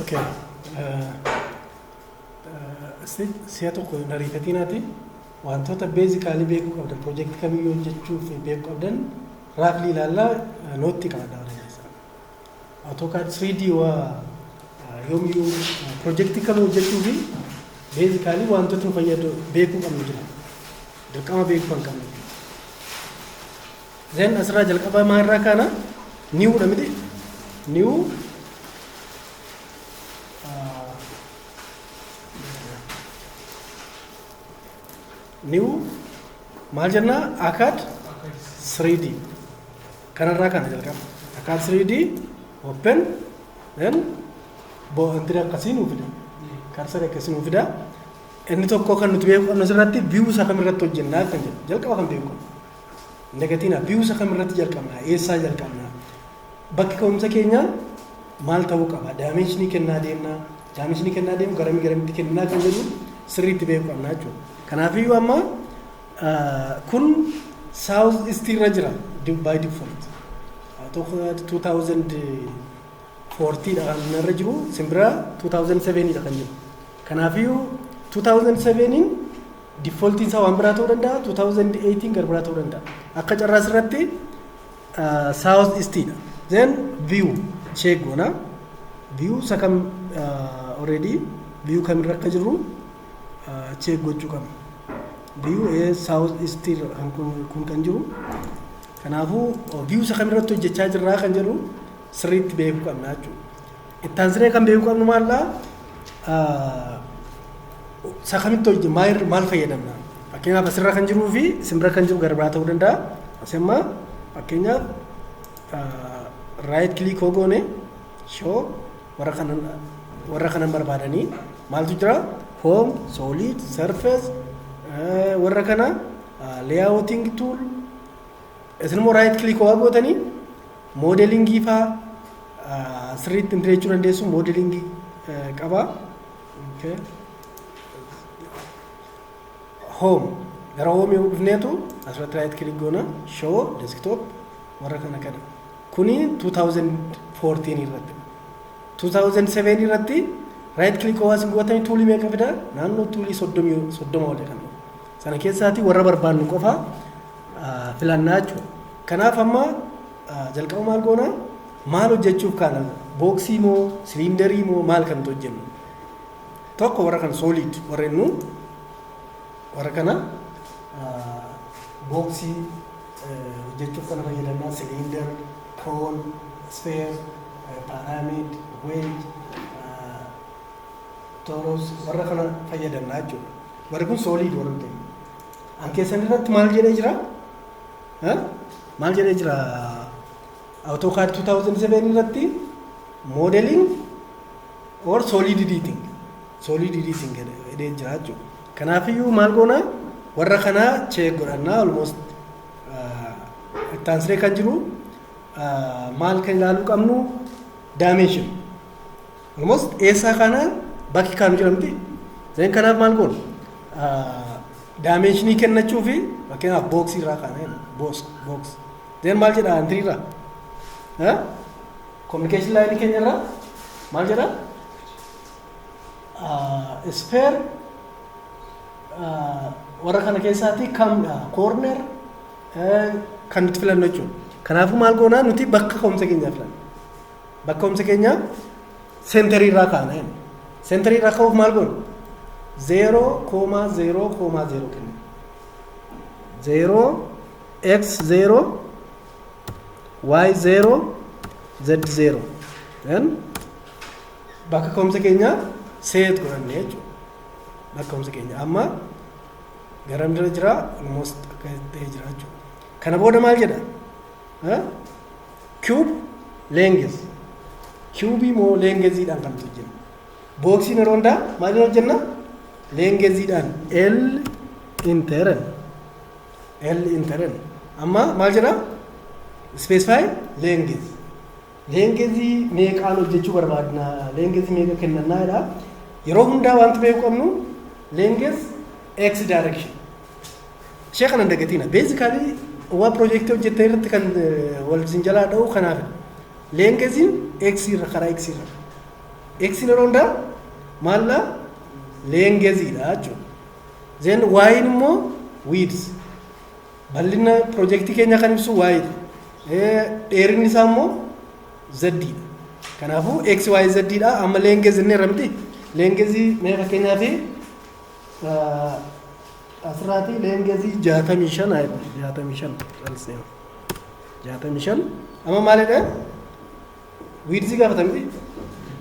Okay. Si'a tokko hin ariifatinaati. Wantoota beezikaalii beekuu qabdan piroojeektii kamiyyuu hojjechuuf beekuu qabdan raaflii ilaallaa nootti qabadha warra keessaa. Atookaa 3D waa yoomiyyuu piroojeektii kam hojjechuu fi beezikaalii wantoota nu fayyadu beekuu qabnu jira. Dirqama beekuu kan qabnu. Then asirraa jalqabaa maa irraa kaana new dha miti new ah, new maal jennaa akad 3D kanarraa kana jalqaba akad 3D open then bo'antiri akkasii nuu fida karsari akkasii nuu fida inni tokko kan nuti beeku qabnu asirratti view isaa kamirratti hojjennaa kan jedhu jalqaba kan beeku qabnu. Hin dagatinaa. Biyuusa kamirratti jalqabnaa? Eessaa jalqabnaa? Bakki ka'umsa keenyaa maal ta'uu qaba? Daameshinii kennaa deemnaa? Daameshinii kennaa deemu garamii garamitti kenninaa kan jedhu sirriitti beekuu qabnaa jechuudha. Kanaafiyyuu amma kun saawuz istii irra jira baay difolt. Tokko 2014 dha kan irra jiru simbira 2007 dha kan jiru. Kanaafiyyuu 2007 Default isaa waan biraa ta'uu danda'a 2018 gara biraa ta'uu danda'a. Akka carraa asirratti south east dha. Then view check goona. View isa kam already view kamirra akka jirru check gochuu qabna. View south east kun kan jiru. Kanaafuu view isa kamirratti hojjechaa jirraa kan jedhu sirriitti beekuu qabna jechuudha. Itti aansinee kan beekuu qabnu maal dhaa? Isa kamitti hojii maal maal fayyadamna? Fakkeenyaaf asirra kan jiruu fi simbira kan jiru garbaa ta'uu danda'a. Asi amma fakkeenyaaf raayit kiliik hoo goone shoo warra kanan warra kanan barbaadanii maaltu jira? Hoom, sooliid, sarfees warra kana leeyaawooting tuul Isin immoo raayit kilik waa gootanii moodelingii faa sirriitti hin jechuu dandeessu moodelingii qaba. Hoom gara hoom yoo dhufneetu asirratti raayit kilik goona shoo deeskitoop warra kana kana. Kuni 2014 irratti. 2007 irratti raayit kilik waa isin gootanii tuulii meeqa fida naannoo tuulii 30 olidha. Sana keessaatii warra barbaannu qofaa filannaa jechuudha. Kanaaf amma jalqaba maal goona maal hojjechuuf kaana booksii moo siliindarii moo maal kan nuti hojjennu tokko warra kan sooliid warra jennu warra kana booksii hojjechuuf kana fayyadamna siliindar koon ispeer paaraamid weej tooros warra kana fayyadamna jechuudha warri kun sooliid warra ta'e An keessan irratti maal jedhee jira? Eh? Maal jedhee jira? AutoCAD 2007 irratti modeling or solid editing. Solid editing jedhee jira jechuudha. Kanaafiyyuu maal goona? Warra kanaa check godhannaa almost ah, itti aansee kan jiru ah, maal kan ilaaluu qabnu dimension. Almost eessaa kaana bakki kaanu jira miti. Zeen kanaaf maal goona? Daameeshinii kennachuu fi fakkeenyaaf booksii irraa kaana jenna. Boos, books. Zeen maal jedha antirii irraa? Kominikeeshin laayinii keenya irraa maal jedha? Ispeer warra kana keessaatii kamdha? Koorner kan nuti filannu jechuudha. Kanaafuu maal goonaa nuti bakka ka'umsa keenyaa filanna. Bakka ka'umsa keenyaa seentarii irraa kaana jenna. Seentarii irraa ka'uuf maal goona? Zeeroo koomaa zeeroo koomaa zeeroo kenna. Zeeroo x zeeroo y zeeroo z zeeroo. Then bakka ka'umsa keenyaa seet godhanne jechuudha. Bakka ka'umsa keenya amma garam jira jira almost akka ta'e jira jechuudha. Kana booda maal jedha? Cube length. Cube immoo leengeziidhaan kan nuti hojjennu. Booksiin yeroo hundaa maaliin hojjenna? Leengeziidhaan L interen. L interen. Amma maal jedhaa? Specify length. Leengezii meeqaan hojjechuu barbaadna? Leengezii meeqa kennannaa jedhaa? Yeroo hundaa wanti beekuu qabnu leengez x direction. Ishee kana hin dagatiina. Beezikaalii waa piroojeektii hojjettan irratti kan wal isin jalaa dha'u kanaaf leengeziin X irra karaa X irra. X yeroo hundaa maallaa leengeziidha jechuudha. Zeen waayiin immoo wiidis. Bal'ina piroojeektii keenyaa kan ibsu waayidha. Dheerinni isaa immoo zaddiidha. Kanaafuu X, Y, Z dha. Amma leengezi inni irra miti. Leengezi mee fakkeenyaaf Asirraatii leengezii jaatamii shan haa jedhamu. Jaatamii shan calseen. Jaatamii shan. Amma maalidha? Wiidzii gaafata miti.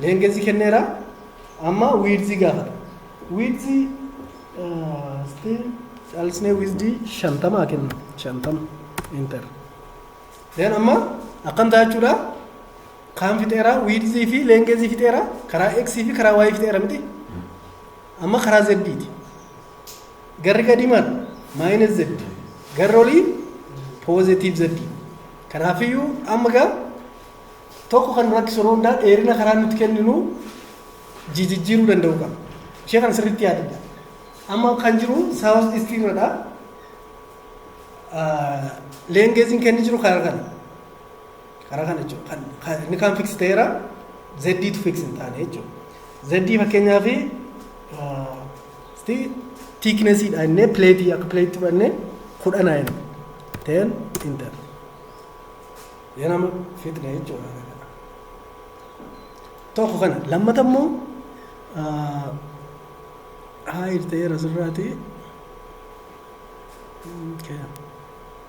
Leengezii kenneera. Amma wiidzii gaafata. Wiidzii still calsnee wiizdii shantama haa kennu. Shantama. Enter. Then amma akkam ta'a jechuudha? Kaan fixeera, wiidzii fi leengezii fixeera, karaa X fi karaa Y fixeera miti. Amma karaa Z ti. Garri gadii maal? Maayinus Z. Garri olii poozitiiv Z. Kanaafiyyuu amma gaa tokko kan nu rakkisu yeroo hundaa dheerina karaa nuti kenninu jijijjiiruu danda'u qaba. Ishee kan sirriitti yaadadha. Amma kan jiru saawus istii irradha. Leengeeziin kenni jiru karaa kana. Karaa kana jechuudha. Inni kaan fiksi ta'eera zeddii tu fiksi hin taane jechuudha. Zeddii fakkeenyaaf tiiknesiidha innee pileetii akka pileetii fudhannee kudha naayin ta'een intar. Yoo nama fixne jechuudha. Tokko kana lammata immoo haayir ta'eera sirraati. Okay.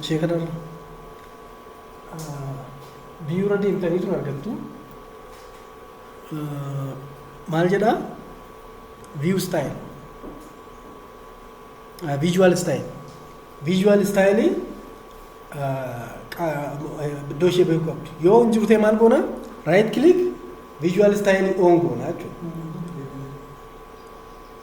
Ishee kanarra biyyuurra deemtanii tun argattu. Maal jedhaa? View style. Visual style. Visual style iddoo ishee beekuu qabdu. Yoo hin jirtee maal goona? Right click visual style on goona jechuudha.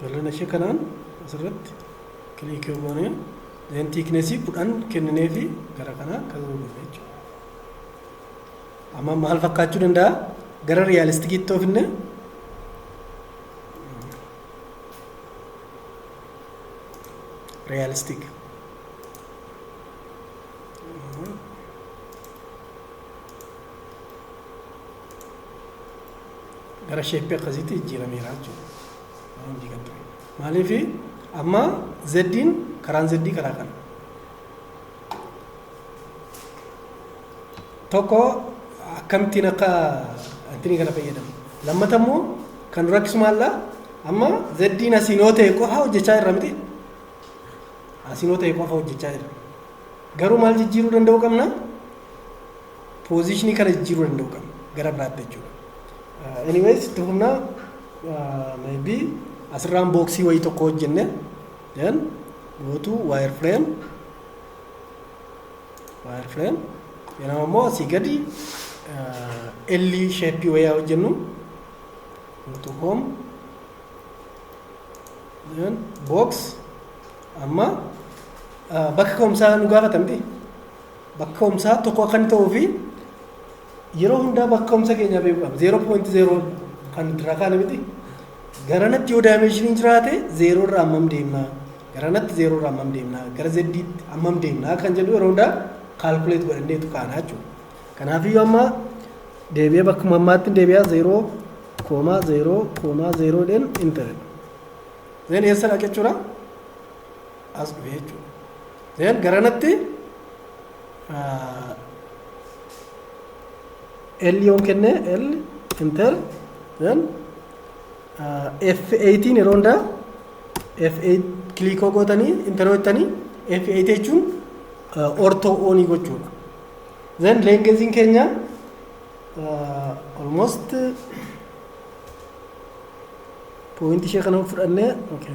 bal'ina ishee kanaan asirratti kiliikii yoo goone deen tiiknesii kudhan kenninee fi gara kanaa kan goone jechuudha. Amma maal fakkaachuu danda'a? Gara riyaalistikiitti yoo finne realistic. gara sheeppii akkasiitti jijjiirameera jechuudha. Raawundii kan ture. Maaliif amma zeddiin karaan zeddii karaa kana. Tokko akkamittiin akka ittiin kana fayyadamu. Lammata immoo kan nu rakkisu maallaa amma zeddiin asiin yoo ta'e qofa hojjechaa jirra miti. Asiin yoo ta'e qofa hojjechaa jirra. Garuu maal jijjiiruu danda'uu qabna? Poozishinii kana jijjiiruu danda'u kan gara biraatti jechuudha. Anyways itti humnaa maybe asirraan booksii wayii tokko hojjenne then go to wire frame wire frame yeroo ammoo asii gadi elli sheeppii wayaa hojjennu go to home then box amma bakka ka'umsaa nu gaafata miti bakka ka'umsaa tokko akka inni ta'uu fi yeroo hundaa bakka ka'umsa keenyaa beekuu qabna. Zeeroo poointi zeeroon kan nuti irraa kaane miti. Garanatti yoo daayimeeshiniin jiraate zeeroo irraa hammam deemnaa? Garanatti zeeroo irraa hammam deemnaa? Gara zeddiitti hammam deemnaa? Kan jedhu yeroo hundaa kaalkuleet godhanneetu kaana jechuudha. Kanaafiyyuu amma deebi'ee bakkuma ammaatti deebi'aa zeeroo koomaa zeeroo koomaa zeeroo dhen intaredha. Zeen eessa dhaqa jechuudha? as dhufe jechuudha. Then garanatti L yoon kenne L enter then F8 yeroo hundaa F8 kilikoo gootanii enter hojjetanii F8 jechuun ortoo oonii gochuudha. Then leengeziin keenya almost poointi ishee kana fudhannee okay.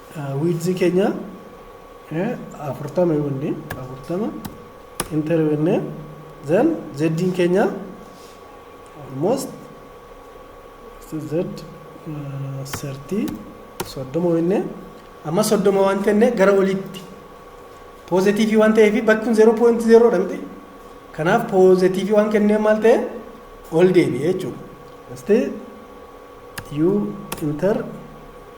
wiidzi keenya afurtama yoonni afurtama inter yoonni then zeddiin keenya almost z sertii soddoma yoonni amma soddoma waan tenne gara olitti poozitiivii waan ta'eef bakki kun zeeroo poointi zeeroodha miti kanaaf poozitiivii waan kennee maal ta'e ol deebi'e jechuudha. Asti u inter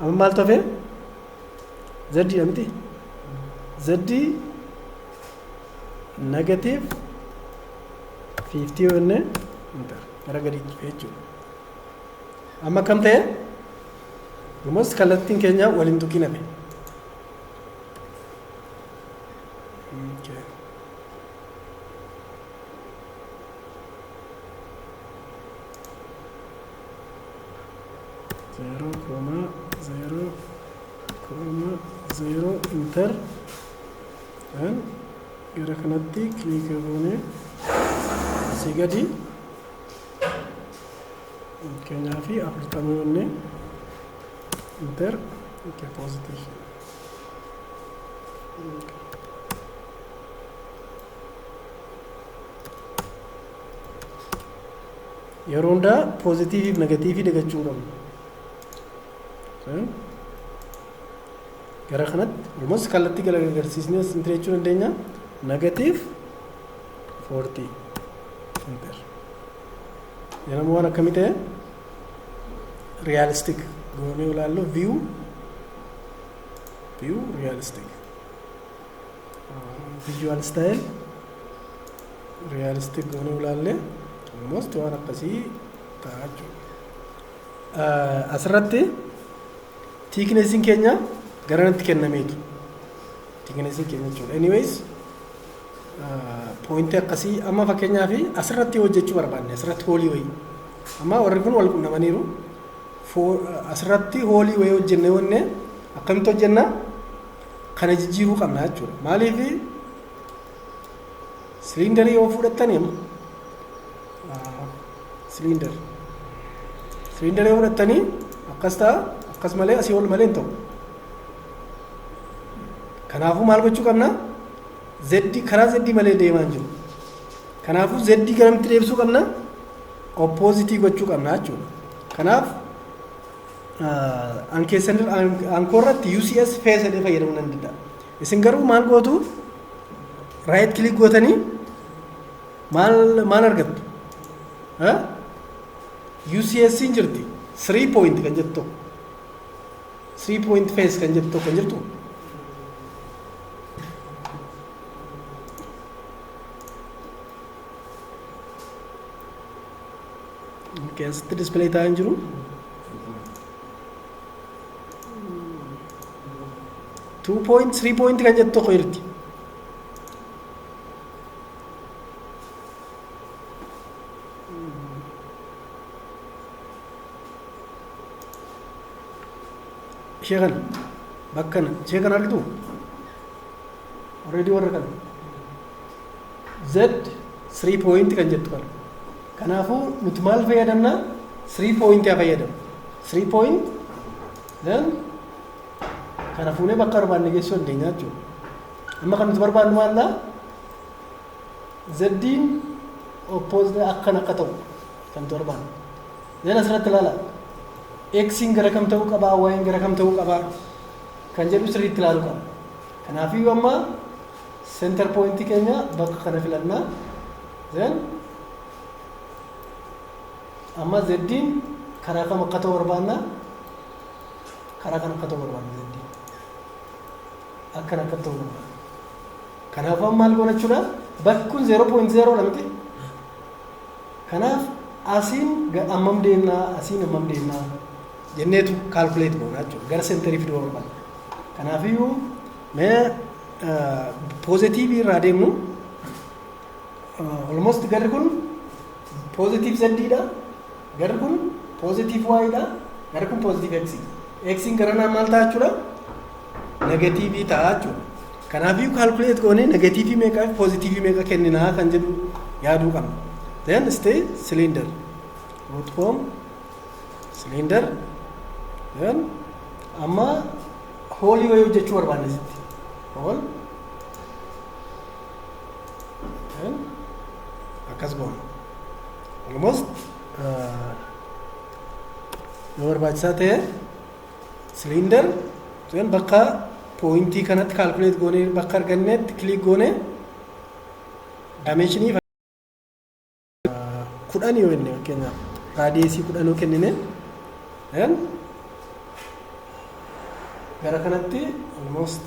Amma maaltu hafee? Zaddiidha miti? Zaddii negatiiv 50 yoo jennee intar gara gadii cufee jechuudha. Amma akkam ta'e? Almost kallattiin keenya waliin tuqiin hafe. Okay. zeeroo koomaa zeeroo koomaa zeeroo inter an gara kanatti kiliika goone asii gadi fakkeenyaa fi afurtama yoonne inter nke positif Yeroo hundaa poozitiivii fi negatiivii dagachuu hin qabnu. Sorry. Gara kanatti almost kallattii gara agarsiisnee sin jechuu dandeenya. Negatiiv 40 ampeer. Yeroo waan akkamii ta'e realistic goonee ilaallu view view realistic visual style realistic goonee ulaallee almost waan akkasii ta'a jechuudha. Asirratti tiikneesiin keenya garanatti kennameetu. Tiikneesiin keenya jechuudha. Anyways poointii akkasii amma fakkeenyaa fi asirratti hojjechuu barbaanne asirratti hoolii wayii. Amma warri kun wal qunnamaniiru. Asirratti hoolii wayii hojjennee wanne akkamitti hojjennaa? Kana jijjiiruu qabna jechuudha. Maaliif Siliindarii yoo fudhattaniin siliindar siliindar yoo fudhattanii akkas ta'a akkas malee asii ol malee hin ta'u. Kanaafuu maal gochuu qabna? Zeddi karaa zeddi malee deemaa hin jiru. Kanaafuu zeddi garamitti deebisuu qabna? Oppoozitii gochuu qabna jechuudha. Kanaaf an keessan an koorratti UCS feesadee fayyadamuu nan danda'a. Isin garuu maal gootu? Right click gootanii maal maal argattu? Ha? UCS hin jirti. 3 point kan jettu tokko. 3 point face kan jettu tokko hin jirtu. Okay, asitti display ta'aa hin jiru. 2 point 3 point kan jettu tokko jirti. Ishee kana bakka kana ishee kana argitu already warra kana z 3 point kan jettu kana kanaafuu nuti maal fayyadamna 3 point haa fayyadamu 3 point Ee? Kana fuunee bakka barbaanne geessuu dandeenya jechuudha. Amma kan nuti barbaannu maallaa? Zeddiin oppoozitee akkan akka ta'u kan nuti barbaannu. Zeen asirratti ilaala. Eksiin gara kam ta'uu qabaa? Waa'een gara kam ta'uu qabaa? Kan jedhu sirriitti ilaaluu qabna. Kanaafuu amma seentar pooyintii keenya bakka kana filannaa. Zeen Amma zeddiin karaa kam akka ta'u barbaanna? Karaa kan akka ta'u barbaanna zeddiin. Akkan akka ta'u barbaanna. Kanaaf amma maal goona jechuudha? Bakki kun 0.0 dha miti. Kanaaf asiin ga- ammam deemnaa asiin ammam deemnaa jenneetu kaalkuleet goona jechuudha. Gara seenterii fiduu barbaanna. Kanaafiyyuu mee poozitiivii irraa deemnu almost garri kun Positive Z dha. Garri kun positive Y dha. Garri kun positive X. X garanaa maal ta'a jechuudha? Negatiivii ta'a jechuudha. Kanaafuu calculate goonee negatiivii meeqa fi positivii meeqa kenninaa kan jedhu yaaduu qabna. Then stay cylinder. Root form cylinder. Then amma hoolii wayii hojjechuu barbaanne sitti. Hool Kan akkas goona. Almost eh, yoo barbaachisaa ta'e siliindar kan bakka pooyintii kanatti kaalkuleet goonee bakka argannetti kiliik goonee daameeshinii kudhan yoo jenne fakkeenyaaf raadiyeesii kudhan yoo kennine then gara kanatti almost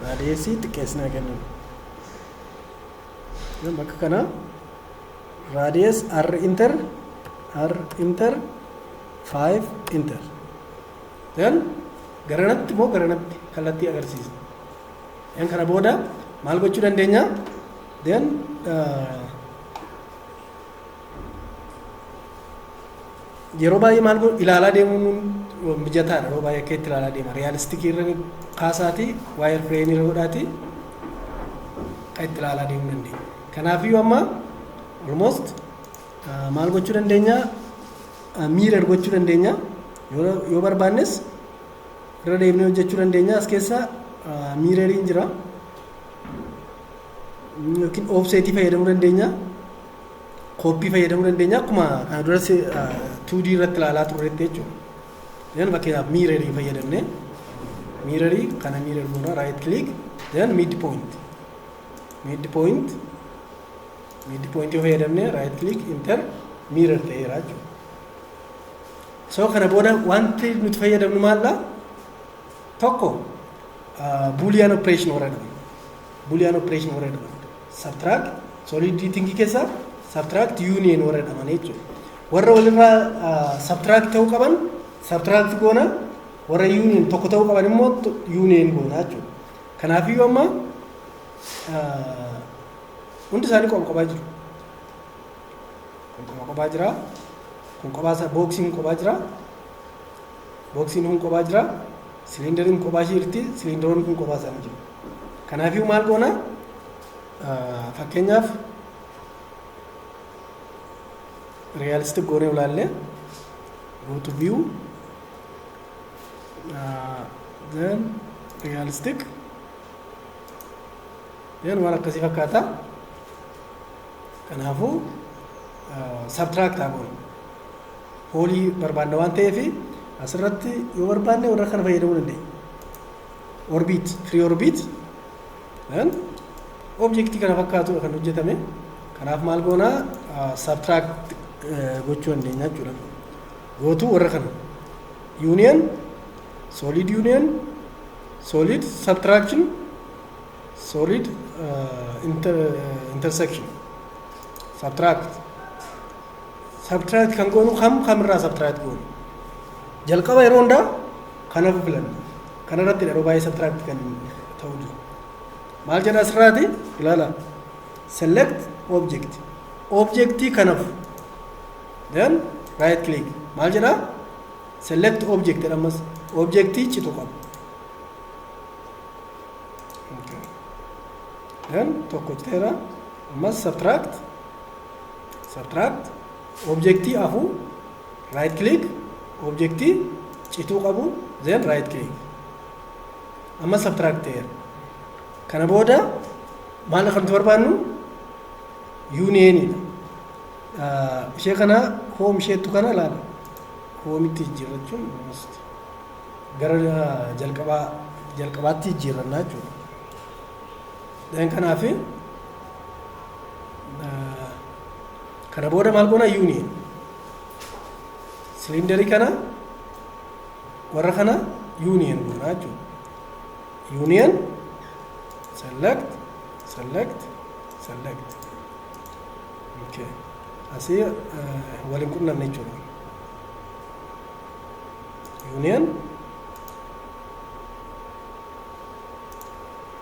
raadiyeesii xiqqeessinaa kenninu then bakka kana raadiyees r inter r inter 5 inter then garanatti moo garanatti kallattii agarsiisa then kana booda maal gochuu dandeenya then yeroo baay'ee maal godhu ilaalaa deemuun mijataadha yeroo baay'ee akka itti ilaalaa deema riyaalistikii irra kaasaatii waayir fireemii irra godhaatii akka itti ilaalaa deemuu dandeenya kanaafiyyuu amma almost maal gochuu dandeenya miirar gochuu dandeenya yoo barbaannes irra deemnee hojjechuu dandeenya as keessa miirariin jira yookiin oofseetii fayyadamuu dandeenya. Kooppii fayyadamuu dandeenya. Akkuma kana dura 2D irratti ilaalaa turreetti jechuudha. Then fakkeenyaaf miirarii fayyadamne. Miirarii kana miirar goona right click then mid point. Mid point mid point yoo fayyadamne right click enter miirar ta'eera jechuudha. So kana booda wanti nuti fayyadamnu maal dha? tokko buuliyaan opereeshin warra jedhaman buuliyaan opereeshin warra jedhaman sabtiraak soolidiitingii keessaa sabtiraakt yuuniyeen warra jedhaman jechuudha. Warra walirraa sabtiraakt ta'uu qaban sabtiraakt goona warra yuuniyeen tokko ta'uu qaban immoo yuuniyeen goona jechuudha. Kanaafiyyuu amma hundi isaanii qoba qobaa jiru. Kun qoba qobaa jira. Kun qobaa isaa booksiin qobaa jira. Booksiin kun kophaa jira. Siliindariin kun kophaa ishee jirti. Siliindaroonni kun kophaa isaanii jiru. Kanaafuu maal goona? Fakkeenyaaf realistic goonee ilaalle go to view uh, then realistic then waan akkasii fakkaata kanaafuu uh, subtract haa goonu hoolii barbaanna waan ta'eef asirratti yoo barbaanne warra kana fayyadamuu dandeenya. Orbiit, free orbiit objektii kana fakkaatudha kan hojjetame. Kanaaf maal goona subtract gochuu dandeenya jechuudha. Gootuu warra kana. Union, solid union, solid subtraction, solid uh, inter, uh, intersection. Subtract. Subtract kan goonu kam kamirraa subtract goonu? Jalqaba yeroo hundaa kan hafu filanna. Kanarratti yeroo baay'ee subtract kan ta'u jiru. Maal jedha asirraati? Ilaala. Select object. Objectii kan hafu. Then right click. Maal jedha? Select object jedha ammas. Objectii citu qaba. Okay. Then tokko citeera. Ammas subtract. Subtract, Objectii afuu, right click, Objectii cituu qabu, then right click. Amma subtract ta'eera. Kana booda maal akka nuti barbaannu? Union dha. Ah, Ishee kana home isheettu kana ilaala. Homitti jijjiirrachuun almost gara ah, jalqabaa jalqabaatti jijjiirrannaa jechuudha. Then kanaa fi kana booda maal goona union siliindarii kana warra kana union goona jechuudha. Union select select select okay. Asii uh, waliin qunnamne jechuudha. Union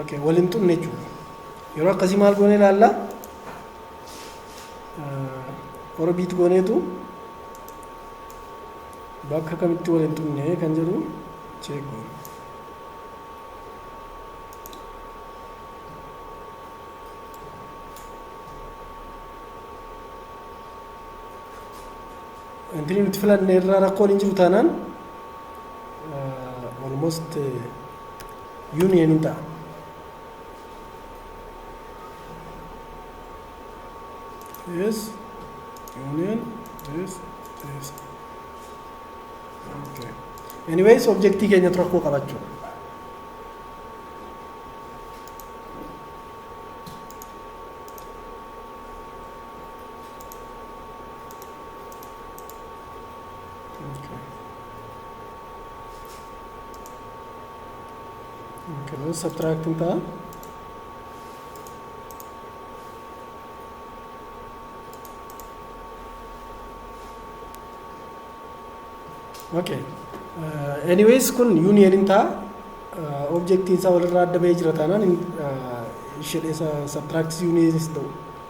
Okay, wal hin xumne jechuudha. Yeroo akkasii maal goonee ilaalla? Orbiit gooneetu bakka kamitti wal hin xumne kan jedhu cheek goona. Ingirii nuti filanne irraa rakkoon hin jiru taanaan almost union hin ta'a. Yes, union, yes, yes. Okay. Anyways, objectii keenyatu rakkoo qabachuu. Kanaaf sabtiraaktiin ta'a. Okay. Uh, anyways kun union hin ta'a. Uh, objectiin isaa walirraa adda bahee jira taanaan hin- uh, ishee dheessa subtract union hin ta'u.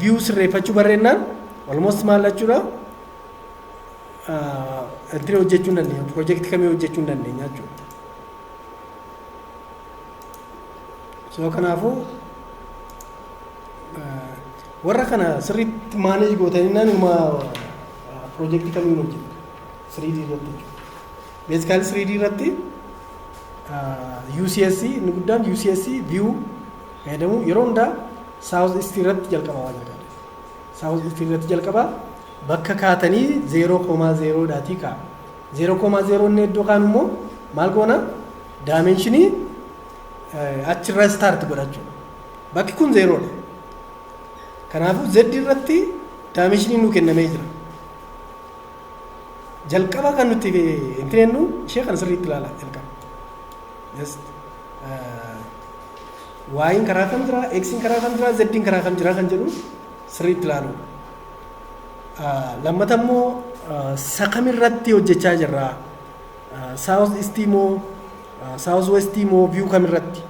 view sirreeffachuu barreennaan almost maal jechuudha entry hojjechuu hin dandeenya project kamii hojjechuu hin dandeenya jechuudha. So kanaafuu warra kana sirriitti maaneej gootanii naanuma piroojeektii kamiin hojjetu siriidii irratti jechuudha. Meedikaal 3D irratti UCS inni guddaan UCS view fayyadamuu yeroo hundaa South East irratti jalqaba waan jalqaba. South East irratti jalqaba bakka kaatanii 0,0 dhaatii kaa. 0,0 inni iddoo kaan immoo maal goona daamenshinii achirra start godhachuu. Bakki kun 0 dha. Kanaafuu Z irratti daamenshinii nuu kennamee jira. jalqaba kan nuti hin teennu ishee kana sirriitti ilaala jalqaba. Just waayiin karaa kam jira, eksiin karaa kam jira, zeddiin karaa kam jira kan jedhu sirriitti ilaalu. Lammata immoo sakam irratti hojjechaa jirra. Saawus istii moo saawus westii moo viyuu kam irratti.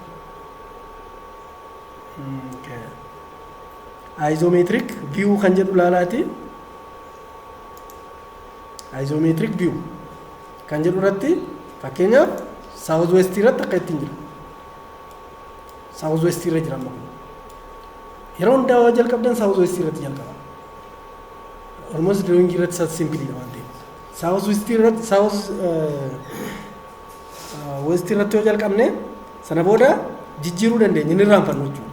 Ayizomeetirik viyuu kan jedhu ilaalaati. Isometric view kan jedhu irratti fakkeenyaaf South West irratti akka ittiin jiru. South West irra jira amma kun. Yeroo hundaa waan jalqabdan South West irratti jalqaba. Almost drawing irratti sat simply dha waan ta'eef. South West irratti South West irratti yoo jalqabne sana booda jijjiiruu dandeenya inni irraanfannu jechuudha.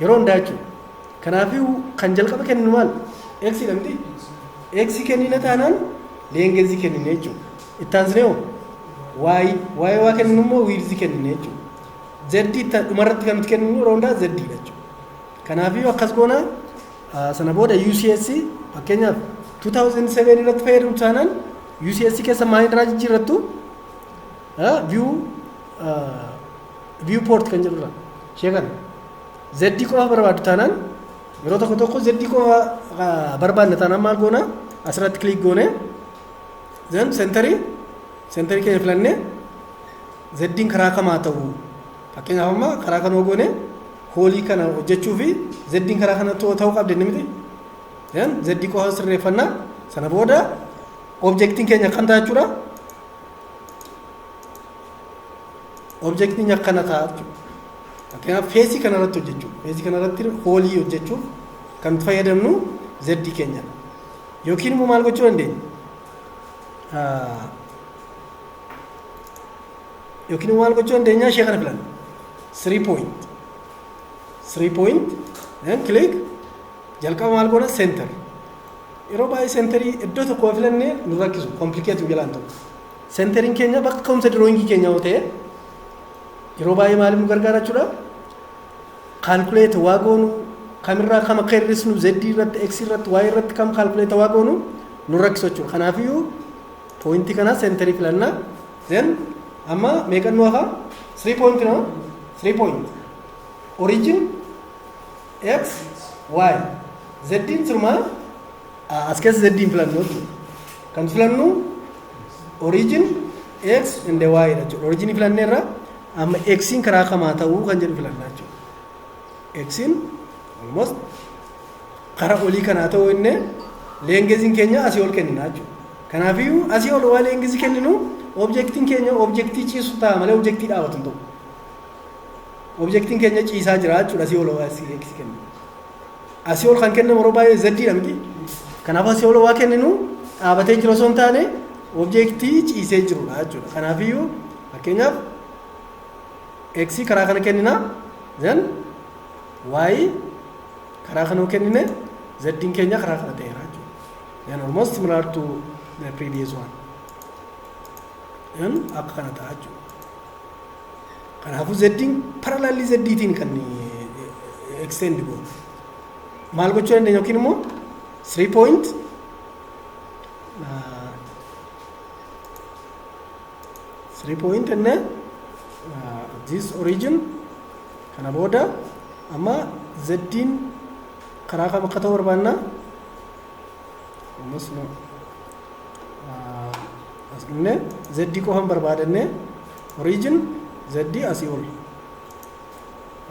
Yeroo hundaa jechuudha. Kanaafuu kan jalqaba kenninu maal? X dha miti? X kennina taanaan leengezii kennine jechuudha. Itti aansinee hoo? Y. Y waa kenninu immoo wiirzii kennine jechuudha. Z itti dhumarratti kan nuti kenninu yeroo hundaa Z dha jechuudha. Kanaafuu akkas goona ah, sana booda UCS fakkeenyaaf 2007 irratti fayyadamtu taanaan UCS keessa maal irraa jijjiirrattu? view view port kan jedhurra ishee kana zeddii qofa barbaaddu taanaan yeroo tokko tokko zeddii qofa barbaadna taanaan maal goona asirratti kiliik goone zan sentarii sentarii keenya filannee zeddiin karaa kamaa ta'u fakkeenyaaf amma karaa kanoo goone hoolii kana hojjechuu fi zeddiin karaa kana ta'uu qabdi inni miti zan zeddii qofa sirreeffannaa sana booda objektiin keenya akkam ta'achuudha Objektiin akkana ta'a jechuudha. Fakkeenyaaf feesii kana irratti hojjechuuf feesii kana irratti hoolii hojjechuuf kan itti fayyadamnu zeddii keenya yookiin immoo maal gochuu dandeenya? Yookiin immoo maal gochuu dandeenya? Ishee kana filanna. Three point. Three point. Then click. Jalqaba maal goona? Center. Yeroo baay'ee seenterii iddoo tokko yoo filannee nu rakkisu komplikeetii nu jalaan ta'u. Seenteriin keenya bakka ka'umsa dirooyingii keenya yoo ta'e yeroo baay'ee maaliif nu gargaara jechuudha. Kaalkuleeta waa goonu kamirraa kam akka hir'isnu Z irratti X irratti Y irratti kam kaalkuleeta waa goonu nu rakkisu jechuudha. Kanaafiyyuu pooyintii kana seenterii filannaa then amma meeqan nu hafa 3 point no 3 point origin X, Y. Zeddiin sirumaa a- as keessa zeddiin filannu jechuudha. Kan filannu origin X and Y dha jechuudha. Origin filannee irra amma X'n karaa kamaa ta'uu kan jedhu filannaa jechuudha. X'n almost karaa olii kanaa ta'uu inni leengeziin keenya asii ol kennina jechuudha. Kanaafiyyuu asii ol waa leengezii kenninu objektiin keenya objektii ciisu ta'a malee objektii dhaabatu hin ta'u. Objektiin keenya ciisaa jira jechuudha asii ol x kennu. Asii ol kan kennamu yeroo baay'ee z dha miti. Kanaaf asii ol waa kenninu dhaabatee jiru osoo hin taane objektii ciisee jirudha jechuudha. Kanaafiyyuu fakkeenyaaf x karaa kana kennina then y karaa kana kennine z keenya karaa kana ta'eera jechuudha. Then almost similar to the previous one. Then akka kana ta'a jechuudha. Kanaafuu zeddiin paralaallii zeddiitiin kan extend goonu. Maal gochuu dandeenya yookiin immoo 3 point uh, 3 point and then uh, this origin kana booda amma zeddiin karaa kam akka ta'u barbaanna? Ammas no. as dhufne z qofan barbaadannee origin z asii ol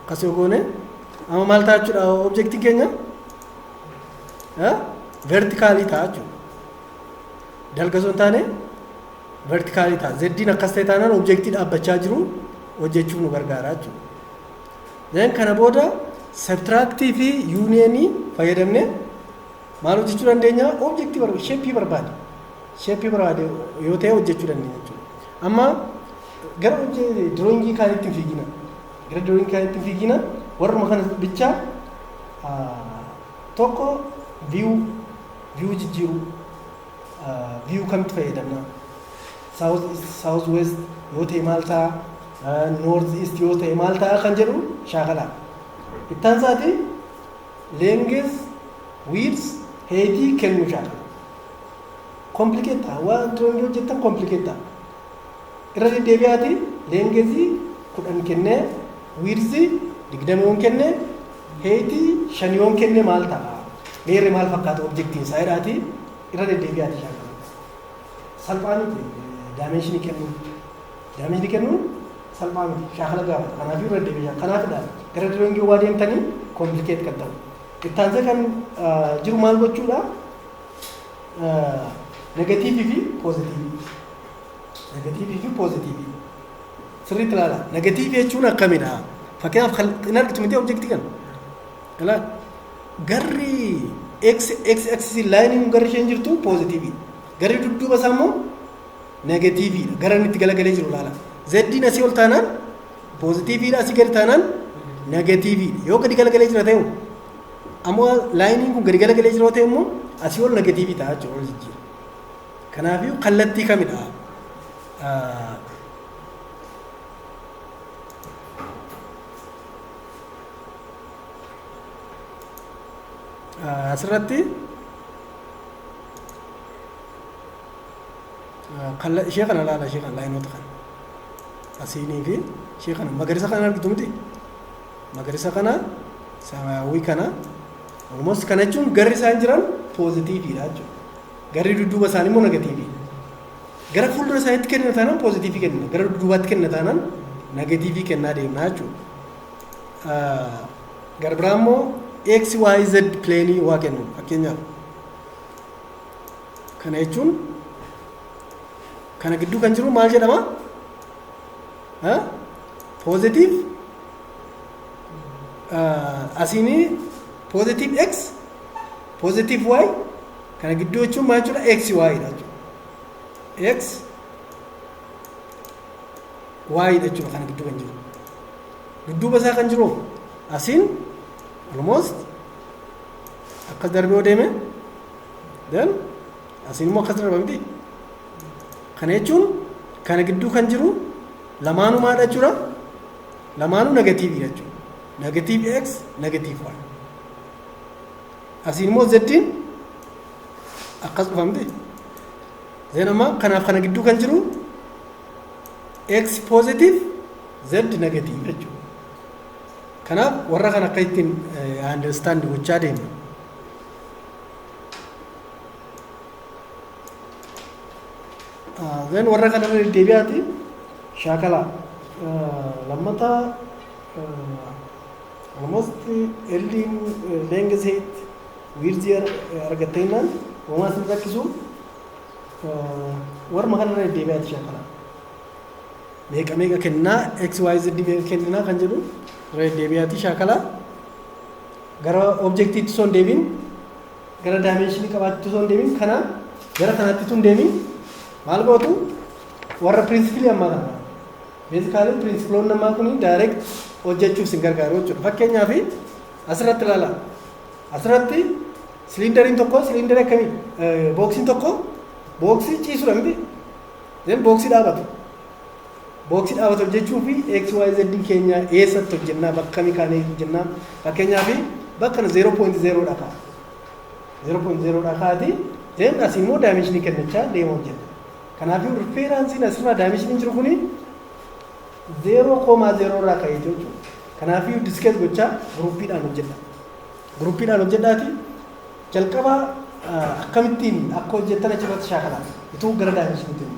akkas yoo goone amma maal ta'a jechuudha objektii keenya vertikaalii ta'a jechuudha dalga osoo hin taane vertikaalii ta'a zeddiin akkas ta'e taanaan objektii dhaabbachaa jiru hojjechuuf nu gargaara jechuudha. Then kana booda sabtiraaktii fi yuuniyeenii fayyadamne Maal hojjechuu dandeenya? Objektii barbaade, sheeppii barbaade. Sheeppii barbaade yoo ta'e hojjechuu dandeenya jechuudha. Amma gara diroongii kaanitti hin fiigina. Gara diroongii kaanitti hin fiigina. Warruma kana bichaa tokko viyuu viyuu jijjiiruu viyuu kamitti fayyadamna? Saawuz weest yoo ta'e maal ta'a? Noorz iist yoo ta'e maal ta'a kan jedhu shaakalaa. Ittaan isaati length, width, height kennuu shaakala. Complicate ta'a. Wantoonni hojjettan complicate ta'a. Irra deddeebi'aati length kudhan kennee width digdama yoon kenne height shan yoon kenne maal ta'a? Meerre maal fakkaata objektiin isaa jedhaati irra deddeebi'aati shaakala. Salphaa miti daamenshinii kennuun. Daameejii kennuun salphaa miti. Shaakala gaafata. Kanaafiyyuu irra deddeebiin kanaafidha gara drawing hoggaa deemtani complicate kan ta'u. Itti aansee kan jiru maal gochuudha? Negatiivii fi poozitiivii. Negatiivii fi poozitiivii. Sirriitti ilaala. Negatiivii jechuun akkamidha? Fakkeenyaaf kan hin argitu miti objektii kana. Ilaal. Garri x x axis laayiniin garri isheen jirtu poozitiivii. Garri dudduuba isaa immoo Negatiivii dha. Gara inni itti galagalee jiru ilaala. Zeddiin asii ol taanaan poozitiivii dha. Asii gadi taanaan negatiivii dha. Yoo gadi galagalee jira ta'e ammoo laayiniin kun gadi galagalee jira ta'e immoo asii ol negatiivii ta'a jechuudha ol jijjiira. Kanaafiyyuu kallattii kamidha? Ah, ah, Asirratti Kalla ishee kana laala ishee kana laayinoota kana. Asiinii fi ishee kana magariisa kana argitu miti. Magariisa kana samaayawii kana almost kana jechuun garri isaan jiran poozitiiviidha jechuudha. Garri dudduuba isaanii immoo negatiivii. Gara fuuldura isaaniitti kennina taanaan poozitiivii kennina. Gara dudduubaatti kennina taanaan negatiivii kennaa deemna jechuudha. Gara biraa immoo x y z pileenii waa kennu fakkeenyaaf Kana jechuun kana gidduu kan jiru maal jedhama? Poozitiiv asiinii poozitiiv x poozitiiv y kana gidduu jechuun maal jechuudha? x y dha jechuudha. x y dha jechuudha kana gidduu kan jiru. Dudduuba isaa kan jiru asiin almost akkas darbee deeme. Then asiin immoo akkas darba miti. Kana jechuun kana gidduu kan jiru lamaanuu maal jechuudha? Lamaanuu negatiivii jechuudha. Negatiiv x, negatiiv y. Asiin immoo zeddiin akkas dhufa miti. Zeen amma kanaaf kana gidduu kan jiru x positive z negative jechuudha. Kanaaf warra kan akka ittiin understand gochaa deemna. Zeen warra kanarra deddeebi'aati shaakala lammataa almost elliin leenga seet wiirzii argattee innaan uumaa sin rakkisu warma kanarra deddeebi'aati shaakala. Meeqa meeqa kennaa x y z meeqa kenninaa kan jedhu irra deddeebi'aati shaakala. Gara objektiitti osoo hin deemin gara daayimenshinii qabaachuutti osoo hin deemin kana gara kanaatti osoo hin deemin maal gootu warra pirinsipilii ammaa kana beezikaalii pirinsipilonni ammaa kun daayireekt hojjechuuf isin gargaaru jechuudha. Fakkeenyaaf asirratti ilaala. Asirratti siliindariin tokko siliindarii akkamii booksiin tokko booksii ciisudha miti. Then booksii dhaabatu. Booksii dhaabate hojjechuuf XYZ keenya eessatti hojjennaa bakka kamii kaanee hojjennaa fakkeenyaaf bakka kana 0.0 dha ka'a. 0.0 dha kaa'ati then asii immoo daayimenshinii kennachaa deema hojjenna. Kanaafuu riferansiin asirraa daayimenshinii jiru kuni 0.0 irraa ka'ee jechuudha. Kanaafuu diskeet gochaa guruppiidhaan hojjedha. Guruppiidhaan hojjedhaati jalqaba akkamittiin akka hojjettan achirratti shaakalaa utuu gara daayimenshinii deemu.